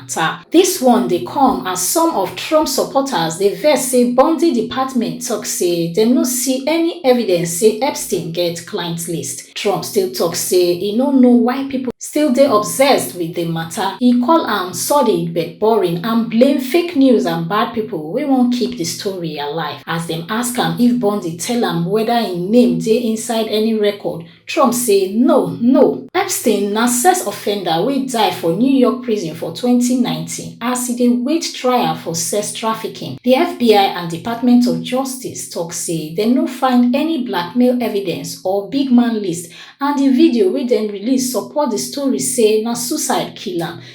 matter. Dis one dey come as some of Trump supporters dey vex say Bondi department tok say dem no see any evidence say Epstein get client list. Trump still tok say e no know why pipo still dey obsessed wit di matter. E call am sordid but boring and blame fake news and bad pipo wey wan keep di story alive. As dem ask am if Bondi tell am weda im name dey inside any record, Trump say no, no. Epstein na sex offender wey die for New York prison for twenty nineteen as e dey wait trial for sex trafficking. Di FBI and Department of Justice tok say dem no find any blackmail evidence or big man list and di video wey dem release support di story say na suicide kill am.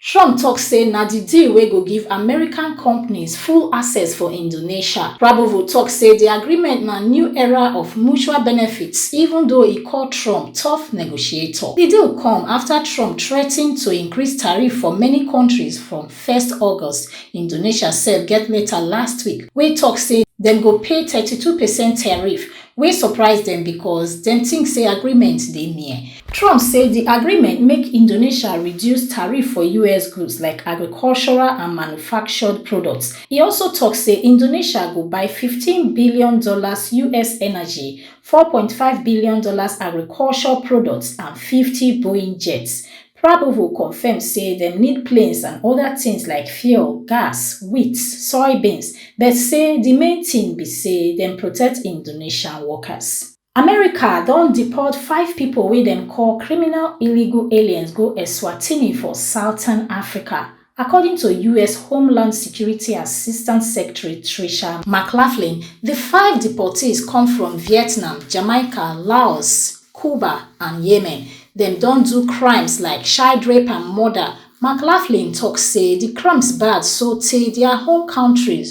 Trump tok say na di deal wey go give American companies full access for Indonesia. Prabowo tok say di agreement na new era of mutual benefits even though e call Trump tough negotiator. Di deal come afta Trump threaten to increase tariff for many countries from first August. Indonesia sef get letter last week wey tok say dem go pay thirty two percent tariff wey surprise dem becos dem tink say agreement dey near. Trump say di agreement make Indonesia reduce tariff for us goods like agricultural and manufactured products. E also tok say Indonesia go buy fifteen billion dollars us energy, four point five billion dollars agriculture products and fifty Boeing jets. Prabowo confirm say dem need planes and oda tins like fuel, gas, wheat, soybeans but say di main tin be say dem protect Indonesian workers. America don deport five pipo wey dem call criminal illegal aliens go Eswatini for southern Africa According to us Homeland Security Assistant Secretary Tricia McLaughlin, di five deportees come from Vietnam, Jamaica, Laos, Cuba and Yemen. Dem don do crimes like child rape and murder. McLaughlin tok say di crimes bad sotay dia home kontris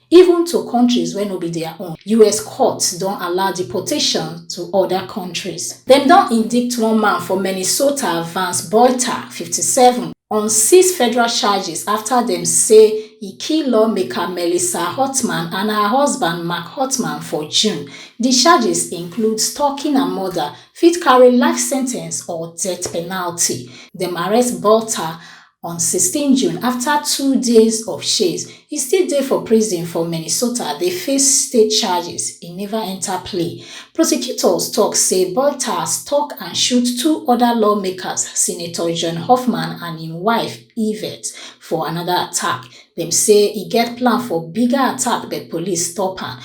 even to kontris wey no be dia own. Us courts don allow deportation to oda kontris. Dem don indict one man for Minnesota, Vance Boiter, fifty seven, on six federal charges afta dem say e kill lawmaker Melissa Hotman and her husband Mark Hotman for June. Di charges include stalking and murder, fit carry life sentence or death penalty. Dem arrest Boiter On sixteen June, afta two days of chase, e still dey for prison for Minnesota dey face state charges e neva enta plea. Prosecutors tok say Bottas tok and shoot two oda lawmakers, Senator John Hoffman and im wife, Yvette, for anoda attack. Dem say e get plan for bigger attack but police stop am.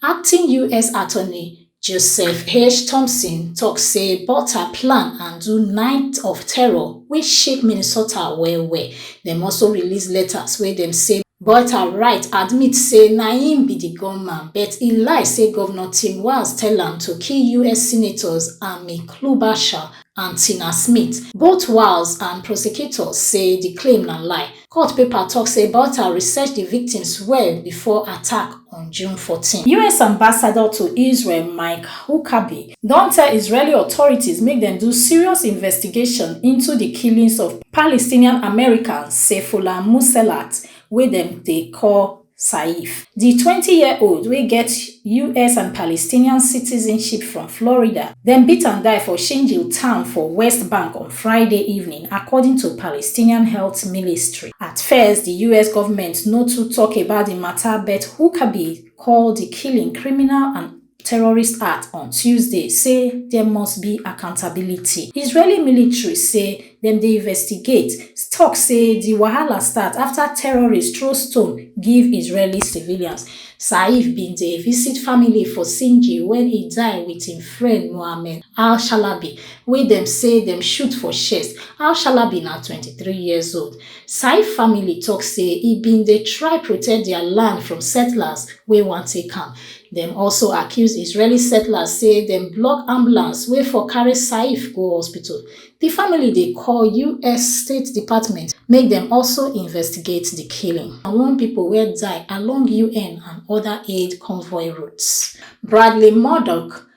Acting US Attorney joseph h thomson tok say butler plan and do night of terror wey shake minnesota well-well dem also release letters wey dem say butler write admit say na im be di gunman but e lie say govnor tim walz tell am to kill us senators amy klobuchar and tina smith both walz and prosecutors say di claim na lie Court paper tok say Balta research di victims well before attack on June fourteen. US ambassador to Israel Mike Huckabee don tell Israeli authorities make dem do serious investigation into di killings of Palestinian American Saifullah Muselat wey dem dey call Saif, di twenty year old wey get us and Palestinian citizenship from Florida, dem beat am die for Shinjil town for West Bank on Friday evening, according to Palestinian health milistry. At first, di us government no too tok about di mata but Huckabee call di killing criminal and terrorist act on tuesday say there must be accountability israeli military say dem dey investigate tok say di wahala start afta terrorists throw stone give israeli civilians saif bin dey visit family for sinji wen e die wit im friend mohammed al-shalabi wey dem say dem shoot for chest al-shalabi na 23 years old saif family tok say e bin dey try protect dia land from settlers wey wan take am Dem also accuse Israeli settlers say dem block ambulance wey for carry Saif go hospital. Di family dey call us State Department make dem also investigate di killing. Na one pipo wey die along UN and oda aid convoy routes. Bradley Murdoch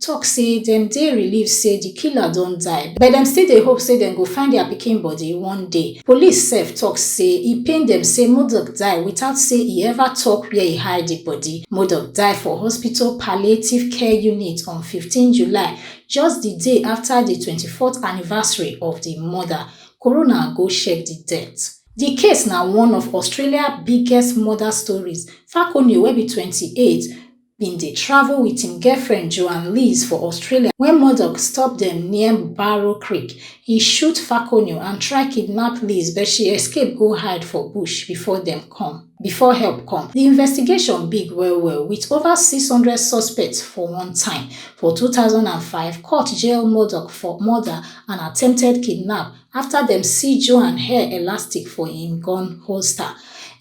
tok say dem dey relieved say di killer don die but dem still dey hope say dem go find dia pikin bodi one day police sef tok say e pain dem say modupe die without say e ever tok wia e hide di bodi modupe die for hospital palliative care unit on fifteen july just di day afta di twenty fourth anniversary of di murder coroner go check di death di case na one of australia biggest murder stories falconew wey be twenty eight bin dey travel wit im girlfriend joan lees for australia wen murdoch stop dem near barrow creek e shoot falconio and try kidnap lees but she escape go hide for bush before dem come before help come di investigation big well well wit over 600 suspects for one time for 2005 court jail murdoch for murder and attempted kidnap afta dem see joanne hair elastic for im gun holster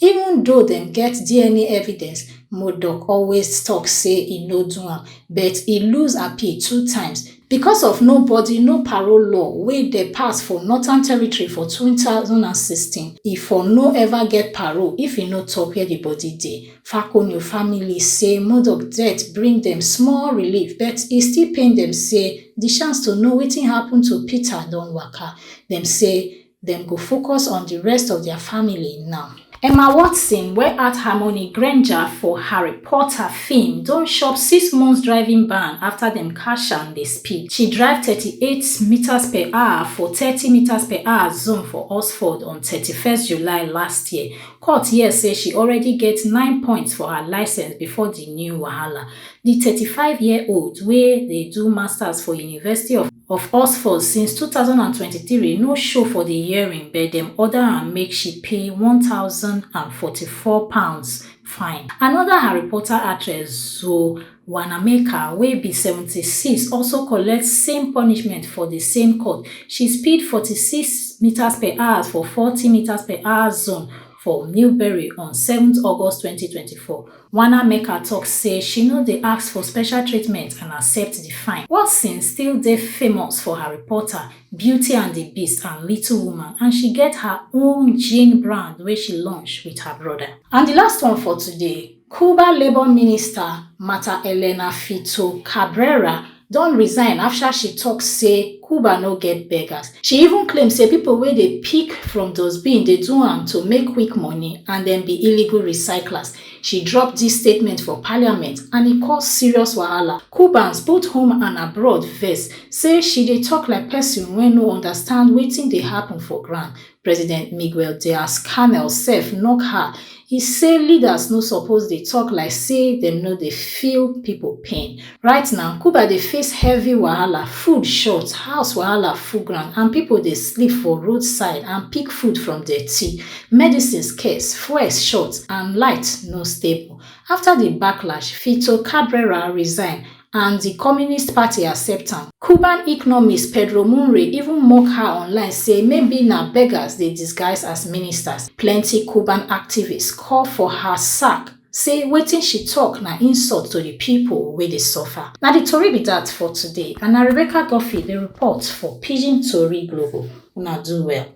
even though dem get dna evidence moduok always tok say e no do am but e lose appeal two times becos of no bodi no parole law wey dey pass for northern territory for two thousand and sixteen e for no ever get parole if e no tok wia di bodi dey. Fakonyo family say Murdoch death bring dem small relief but e still pain dem say di chance to know wetin happun to Peter don waka. Dem say dem go focus on di rest of dia family now. Emma Watson wey act Hermione Granger for Harry Potter feem don chop six months driving ban afta dem catch am dey speed. She drive thirty eight metres per hour for thirty metres per hour zone for Oxford on thirty first July last year Court hear say she already get nine points for her licence before di new wahala. Di thirty five year old wey dey do masters for University of of Oxford since two thousand and twenty three no show for di hearing but dem order am make she pay one thousand and forty four pounds fine. Anoda Harry Potter actress Zoe Wanamaker, wey be seventy six, also collect same punishment for di same court, she speed forty six metres per hours for forty metres per hours zone for Newbury on seven August twenty twenty four. Wanamaker tok say she no dey ask for special treatment and accept di fine. Watson still dey famous for her reporter, Beauty and di Beast and Little Woman and she get her own gin brand wey she launch wit her broda. And di last one for today. Cuba labour minister Marta Elena Fito Cabrera don resign afta she tok say Cuba no get beggars. She even claim say pipo wey dey pick from dustbin dey do am to make quick money and dem be illegal recyclers. She drop dis statement for parliament and e cause serious wahala. Cubans both home and abroad vex say she dey tok like pesin wey no understand wetin dey happun for ground. president miguel diazcanel sef knock her e say leaders no suppose dey tok like say dem no dey feel pipo pain right now cuba dey face heavy wahala food short house wahala full ground and pipo dey sleep for roadside and pick food from dirty medicine scarce fuel short and light no stable afta di backlash fito cabrera resign and di communist party accept am cuban economist pedro mouinr even mock her online say maybe na beggars dey disguise as ministers plenti cuban activists call for her sack say wetin she tok na insult to di pipo wey dey suffer na di tori be dat for today and na rebecca guffey dey report for pidgin tori global una do well